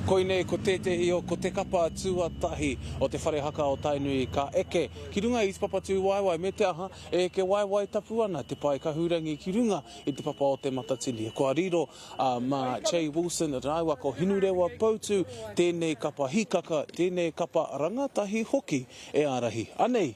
Koinei ko tētehi o ko te kapa tuatahi o te whare haka o Tainui ka eke ki runga i te papa tūwaewae me te aha, e eke waewae tapu ana te pae kahurangi ki runga i te papa o Te Matatini. Kua riro a Mā Jay Wilson rāua ko Hinurewa Poutu tēnei kapa hikaka, tēnei kapa rangatahi hoki e ārahi. Anei!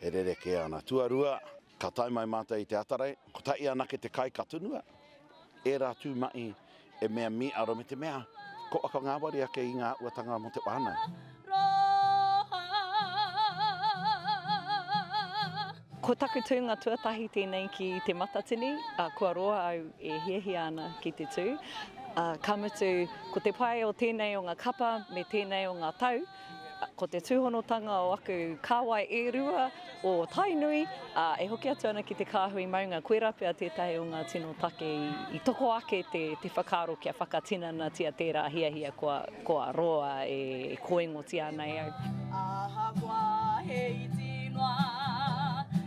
E rerekē ana. Tuarua, ka tae mai mātou i te Atarei, kotahi anake te kai ka tunua, ērā tū mahi e mea mīaro me te mea ko waka ngāwari ake i ngā āhuatanga mō te whānau. Ko taku tūnga tuatahi tēnei ki Te Matatini, ā, kua roa au e hiahia ana ki te tū, ā, ka mutu, ko te pai o tēnei o ngā kapa me tēnei o ngā tau, Ko te tūhonotanga o aku kāwai e rua o Tainui, ā, e hoki atu ana ki te kāhui maunga, koirā pea tētahi o ngā tino take i toko ake te, te whakaaro kia whakatinanatia tērā hiahia kua, kua roa e kōingotia ana e au. Ahakoa he iti noa.